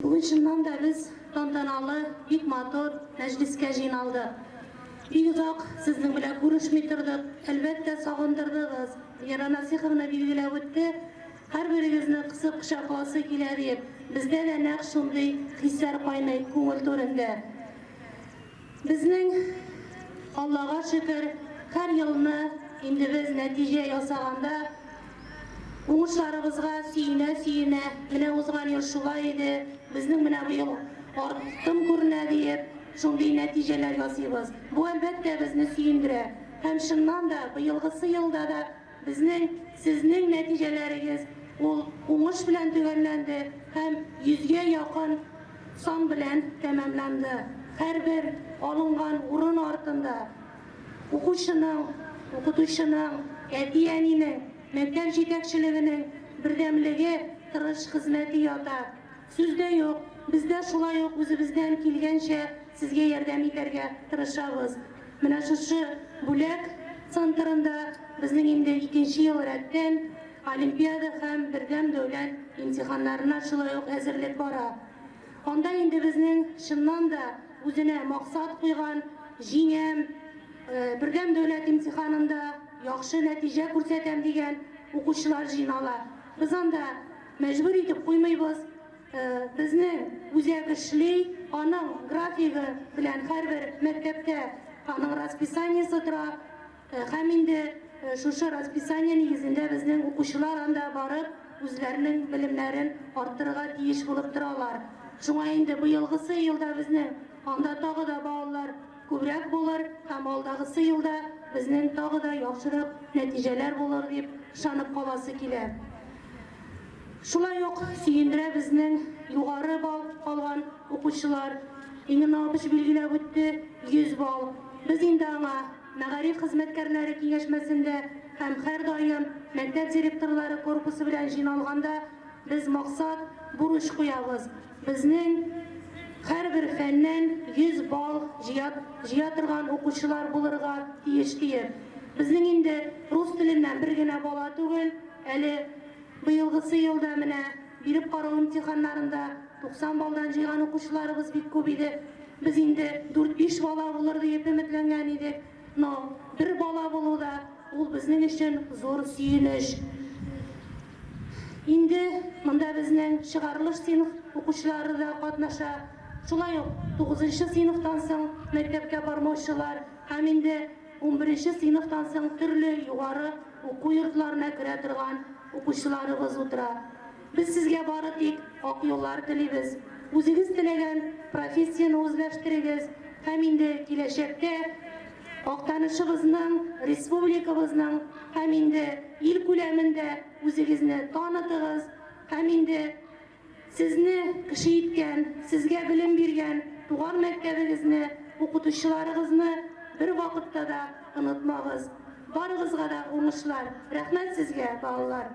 Бүген чыннан да без тантаналы, бик матур мәҗлескә җыйналдык. Бик озак сезнең белән күрешми тордык, әлбәттә, сагындырдыгыз. Вера Насыйховна билгеләп үтте, һәрберегезне кысып кочакласы килә диеп. Бездә дә нәкъ шундый хисләр кайный күңел түрендә. Безнең, Аллага шөкер, һәр елны инде без нәтиҗә ясаганда уңышларыбызга сөенә-сөенә, менә узган ел шулай иде, безнең менә бу ел артым күренә диеп, шундый нәтиҗәләр ясыйбыз. Бу, әлбәттә, безне сөендерә. Һәм, чыннан да, быелгысы елда да Безнең, сезнең нәтиҗәләрегез ул уңыш белән төгәлләнде һәм йөзгә якын сан белән тәмамланды. Һәрбер алынган урын артында укучының, укытучының, әти-әнинең, мәктәп җитәкчелегенең бердәмлеге, тырыш хезмәте ята. Сүз дә юк, без дә шулай ук үзебездән килгәнчә сезгә ярдәм итәргә тырышабыз. Менә шушы бүләк центрында безнең инде икенче ел рәттән олимпиада һәм бердәм дәүләт имтиханнарына шулай ук әзерлек бара. Анда инде безнең чыннан да үзенә максат куйган, җиңәм, бердәм дәүләт имтиханында яхшы нәтиҗә күрсәтәм дигән укучылар җыйнала. Без анда. Мәҗбүр итеп куймыйбыз. Безнең үзәк эшли, аның графигы белән һәрбер мәктәптә аның расписаниесе тора һәм инде шушы расписание нигезендә безнең укучылар анда барып үзләренең белемнәрен арттырырга тиеш булып торалар. Шуңа инде быелгысы елда безнең анда тагы да балалар күбрәк булыр һәм алдагысы елда безнең тагы да яхшырак нәтиҗәләр булыр дип ышанып каласы килә. Шулай ук сөендерә безнең югары балл алган укучылар, Инна Наупич билгеләп үтте, 100 балл. Без инде аңа мәгариф хезмәткәрләре киңәшмәсендә һәм һәрдаим мәктәп директорлары корпусы белән җыйналганда без максат, бурыч куябыз, безнең һәрбер фәннән 100 балл җыя җыя торган укучылар булырга тиеш диеп. Безнең инде рус теленнән бер генә бала түгел, Әле быелгысы елда менә биреп карау имтиханнарында 90 баллдан җыйган укучыларыбыз бик күп иде. Без инде дүрт-биш бала булыр диеп өметләнгән идек, но бер бала булу да, ул безнең өчен зур сөенеч. Инде монда безнең чыгарылыш сыйныф укучылары да катнаша, шулай ук тугызынчы сыйныфтан соң мәктәпкә бармаучылар һәм инде Унберенче сыйныфтан соң төрле югары уку йортларына керә торган укучыларыбыз утыра. Без сезгә бары тик ак юллар телибез. Үзегез теләгән профессияне үзләштерегез һәм инде киләчәктә Актанышыбызның, республикабызның һәм инде ил күләмендә үзегезне танытыгыз һәм инде Сезне кеше иткән, сезгә белем биргән туган мәктәбегезне, укытучыларыгызны бер вакытта да онытмагыз. Барыгызга да уңышлар! Рәхмәт сезгә, балалар!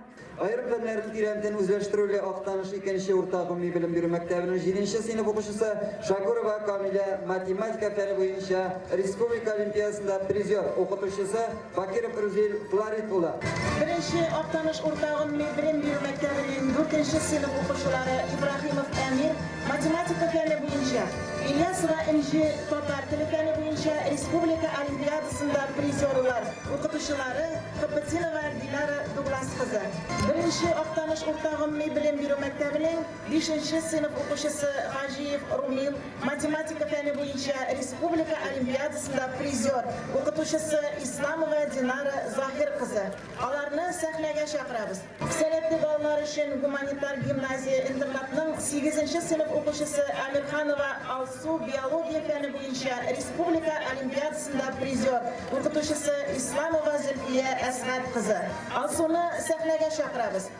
Аерым фәннәрне тирәнтен үзләштерүле Актаныш икенче урта гомуми белем бирү мәктәбенең җиденче сыйныф укучысы Шакурова Камилә математика фәне буенча республика олимпиадасында призер, укытучысы Бакиров Рузил Фларит улы. Беренче Актаныш урта гомуми белем бирү мәктәбенең дүртенче сыйныф укучылары Ибраһимов Әмир, математика фәне буенча, Ильясова Энҗе, татар теле фәне буенча, республика олимпиадасында призерлар, укытучылары, Копытинова Диляра Дуглас кызы. Беренче Актаныш урта гомуми белем бирү мәктәбенең бишенче сыйныф укучысы Гаҗиев Румил, Математика фәне буенча республика олимпиадасында призер, укытучысы Исламова Динара Заһир кызы. Аларны сәхнәгә чакырабыз. Сәләтле балалар өчен гуманитар гимназия-интернатның сигезенче сыйныф укучысы Әмирханова Алсу биология фәне буенча республика олимпиадасында призер, укытучысы Исламова Зөлфия Әсгать кызы. Алсуны сәхнәгә чакырабыз.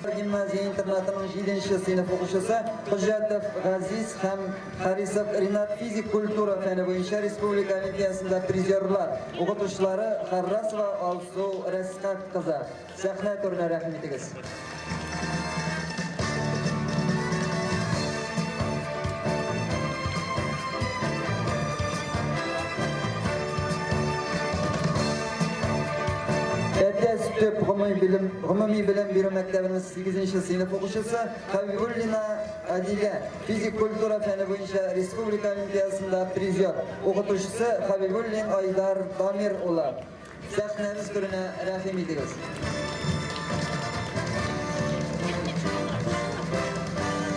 Гимназия-интернатының җиденче сыйныф укучысы Хөҗҗәтов Газиз һәм Харисов Ринат физик культура фәне буенча республика олимпиясендә призерлар, укытучылары Харрасова Алсу Рәсхәт кызы. Сәхнә түренә рәхим итегез. Әтәс төп гомуми белем Гомуми белем бирү мәктәбенең сигезенче сыйныф укучысы Хәбибуллина Адилә физик культура фәне буенча республика олимпиадасында призер, укытучысы Хәбибуллин Айдар Дамир улы. Сәхнәбез түренә рәхим итегез.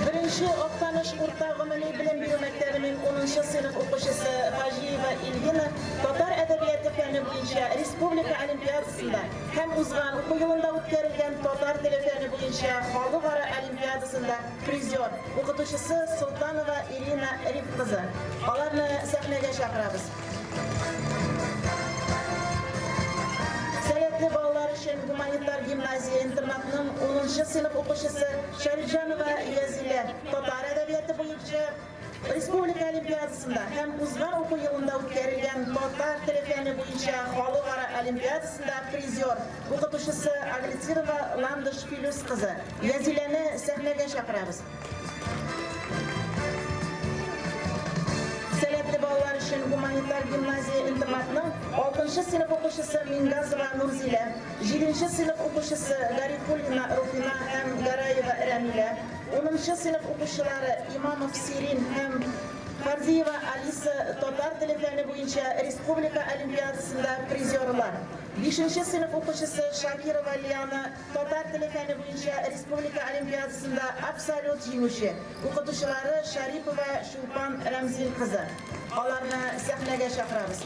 Беренче Актаныш урта гомуми белем бирү мәктәбенең унынчы сыйныф укучысы Хаҗиева Ильвина татар әдәбияты фәне буенча республика олимпиадасында һәм узган уку елында үткәрелгән татар теле фәне буенча халыкара олимпиадасында призер, укытучысы Солтанова Ирина Риф кызы. Аларны сәхнәгә чакырабыз. Сәләтле балалар өчен гуманитар гимназия-интернатның унынчы сыйныф укучысы Шәрифҗанова Язилә татар әдәбияты буенча Республика олимпиадасында һәм узган уку елында үткәрелгән татар теле фәне буенча халыкара олимпиадасында призер, укытучысы Аглицирова Ландыш Филүс кызы Язиләне сәхнәгә чакырабыз. Сәләтле балалар өчен гуманитар гимназия-интернатның алтынчы сыйныф укучысы Мингазова Нурзилә, җиденче сыйныф укучысы Гарифуллина Руфина һәм Гараева Рәмилә, Унынчы сыйныф укучылары Имамов Сирин һәм Фарзиева Алиса татар теле фәне буенча республика олимпиадасында призерлар. Бишенче сыйныф укучысы Шакирова Лиана татар теле фәне буенча республика олимпиадасында абсолют җиңүче, укытучылары Шарипова Чулпан Рәмзил кызы. Аларны сәхнәгә чакырабыз.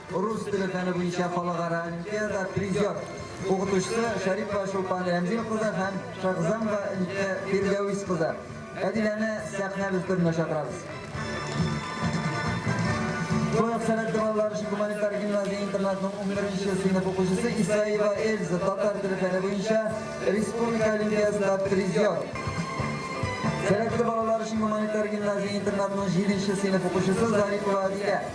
Рус теле фәне буенча халыкара олимпиада призер, укытучысы Шәрипова Чулпан Рәмзил кызы һәм Шакзамова Илкә Фирдәвис кызы. Әдиләне сәхнә өстенә чакырабыз. Шулай сәләтле балалар өчен гуманитар гимназия интернатының 11 сыйныф укучысы Исаева Эльза татар теле фәне буенча республика олимпиадасында призер. Сәләтле балалар өчен гуманитар гимназия интернатының 7 сыйныф укучысы Зарипова Адилә.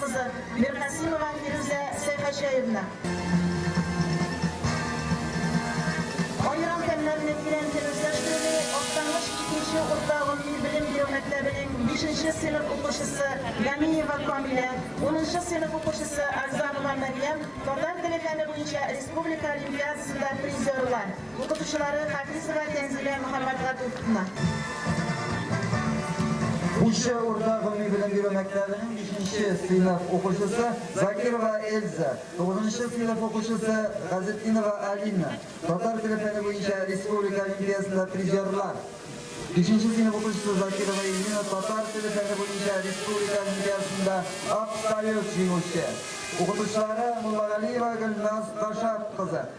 Кызы, Миркасимова Фирүзә Сәйхәҗәевна. Аерым фәннәрне тирән дин үзләштерүне Актаныш икенче урта гомуми белем бирү мәктәбенең бишенче сыйныф укучысы Гамиева Камилә, унынчы сыйныф укучысы Агзамова Мәрьям татар теле фәне буенча республика олимпиадасында призерлар. Укытучылары, Хафизова Тәнзилә Мөхәммәтгатуповна. Куча урта гомуми белем бирү мәктәбенең бишенче сыйныф укучысы Закирова Эльза, тугызынчы сыйныф укучысы Газетдинова Алина, татар теле фәне буенча республика олимпиясында призерлар, бишенче сыйныф укучысы Закирова Эльвина, татар теле фәне буенча республика олимпиясында абсолют җиңүче, укытучылары, Муллагалиева Гөлназ Гашат кызы.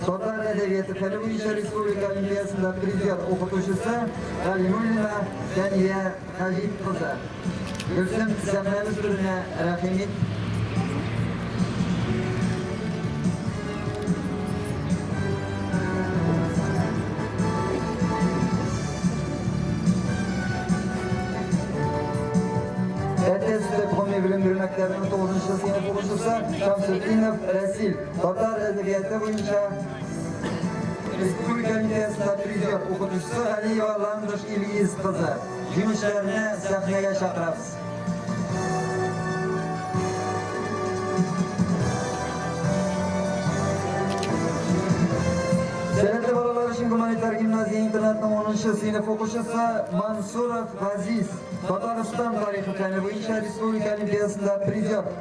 Татар әдәбияты фәне буенча республика олимпиясында призер укытучысы Галимуллина Дәния Хаҗип кызы. Гөлсем Сәмрәбез түренә рәхимит Әтәс белем бирү мәктәбенең 9 сыйныф укучысы Шамсетдинов Рәсил. Татар әдәбияты буенча республика милиясендә призер укытучысы Галиева Ландыш Ильгиз кызы. Җиңүчеләрне сәхнәгә чакырабыз. Сәләтле балалар өчен гуманитар гимназия интернатының 10 сыйныф укучысы Мансуров Газиз Татарстан тарихы фәне буенча республика олимпиадасында призер.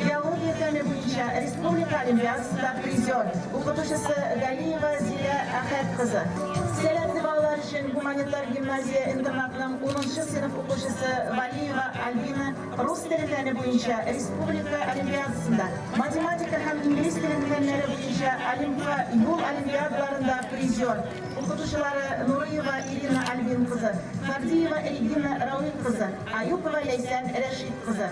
Биология фәне буенча республика олимпиадасында призер, укытучысы Галиева Зилә Әхәт кызы, сәләтле балалар өчен гуманитар гимназия-интернатның унынчы сыйныф укучысы Валиева Альбина, рус теле фәне буенча республика олимпиадасында, математика һәм инглиз теле фәннәре буенча Олимпка юл олимпиадаларында призер, укытучылары Нурыева Ирина Альбин кызы, Фардиева Регина Рауил кызы. Аюпова Ләйсән Рәшит кызы.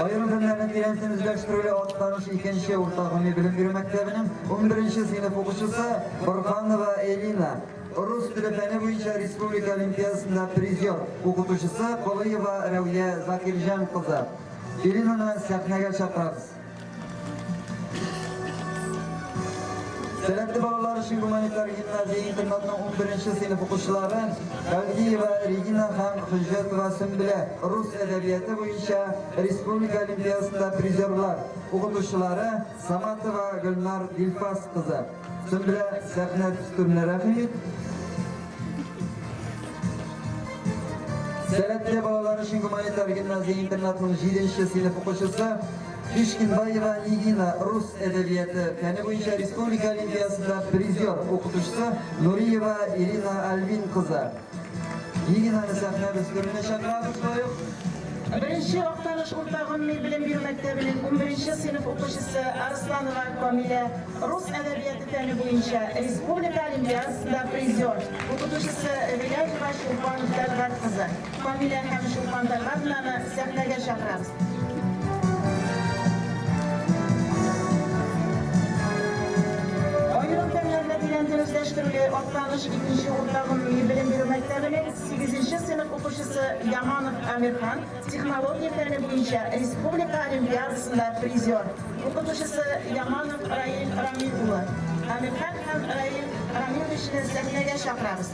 Аерым фәннәрне тирәнтен үзләштерүле Актаныш икенче урта гомуми белем бирү мәктәбенең унберенче сыйныф укучысы Борһанова Элина, рус теле фәне буенча республика олимпиадасында призер, укытучысы Колыева Рәүя Закирҗан кызы. Элинаны сәхнәгә чакырабыз. Сәләтле балалар өчен гуманитар гимназия интернатының 11-нче сыйныф укучылары Гавдиева Регина һәм Хөҗҗәтова Сөмбелә рус әдәбияты буенча республика олимпиадасында призерлар, укытучылары Саматова Гөлнар Дилфас кызы. Зөмрә сәхнә төстемне рәхим ит. Сәләтле балалар өчен гуманитар гимназия интернатының 7 нче сыйныф укучысы Кишкинбаева Нигина рус әдәбияты фәне буенча республика олимпиадасында призер укытучысы Нуриева Ирина Альвин кызы. Лигинаны сәхнәбез түренә чакырабыз боек. Беренче Актаныш урта гомуми белем бирү мәктәбенең унберенче сыйныф укучысы Арсланова Камилә, рус әдәбияты фәне буенча республика олимпиадасында призер, укытучысы Виляҗева Чулпан Тәлгать кызы. Камилә һәм Чулпан Тәлгатовнаны Сәхнәгә чакырабыз. Аерым фәннәрне тирән дә үзләштерүле Актаныш икенче урта гомуми белем бирү мәктәбенең сигезенче сыйныф укучысы Яманов Әмирхан технология фәне буенча республика олимпиадасында призер, укытучысы Яманов Раил Рамил улы Әмирхан һәм Раил Рамил ичне сәхнәгә чакырабыз.